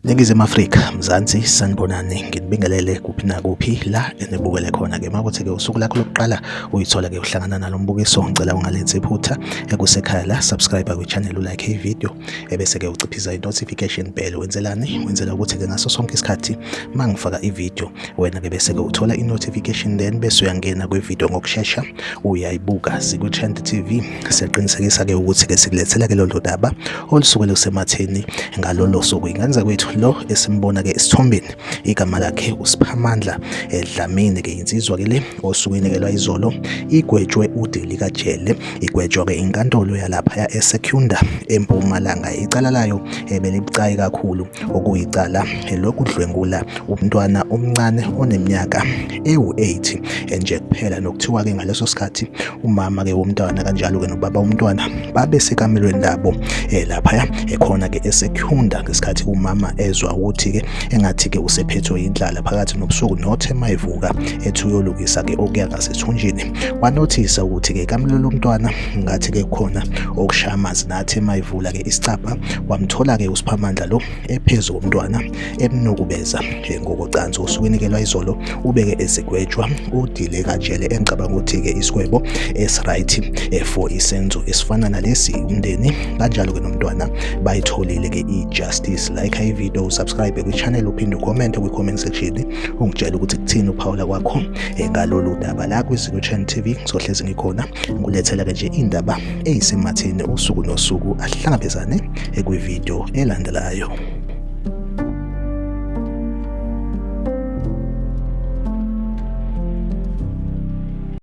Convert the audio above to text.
Ningizimu Afrika, Mzansi, sanibonani, nginibingelele kuphi nakuphi la enibukele khona-ke. Makuthi-ke usuku lakho lokuqala uyithola-ke uhlangana nalo mbukiso, ngicela ungalenzi iphutha ekusekhaya la, subscribe kwi-channel ulike i-video, ebese-ke uciphiza i-notification bell. Wenzelani? Wenzela ukuthi-ke ngaso sonke isikhathi mangifaka i-video wena ke bese-ke uthola i-notification then bese uyangena kwividiyo ngokushesha uyayibuka sikwi-trend tv siyaqinisekisa-ke ukuthi-ke sikulethela-ke lolu daba olusuke lusematheni ngalolo suku ingenza kwethu lo esimbona-ke esithombeni igama lakhe usiphamandla edlamini ke insizwa-ke le osuke inekelwa izolo igwetshwe udeli kajele igwetshwa-ke inkantolo yalaphaya esecunda empumalanga icala layo ebelibucayi kakhulu okuyicala lokudlwengula umntwana omncane oneminyaka ewu-8 enje kuphela nokuthiwa-ke ngaleso sikhathi umama-ke womntwana kanjalo-ke nobaba womntwana babe sekamelweni labo um eh, laphaya ekhona-ke esekhunda ngesikhathi umama ezwa ukuthi-ke engathi-ke usephethwe yindlala phakathi nobusuku nothe mayivuka ethi uyolukisa-ke okuya ngasethunjini wanothisa ukuthi-ke kamlula umntwana ngathi-ke khona okushaya amanzi nathi emayivula-ke isicabha wamthola-ke usiphamandla lo ephezu komntwana emnukubeza ngokocansi usukinikelwa izolo ubeke ezigwetshwa udile kajele engicabanga ukuthi-ke isigwebo esiright eh, for isenzo esifana nalesi umndeni kanjalo-ke nomntwana bayitholile-ke i-justice like ivideo usubscribe kwi-channel uphinde ucommente kwi-comment section ungitshela ukuthi kuthini uphawula kwakho eh, ngalolu daba la kwiZulu Channel TV ngizohlezi ngikhona ngulethela ke nje indaba eyisematheni usuku nosuku ahlangabezane eh, kwivideo elandelayo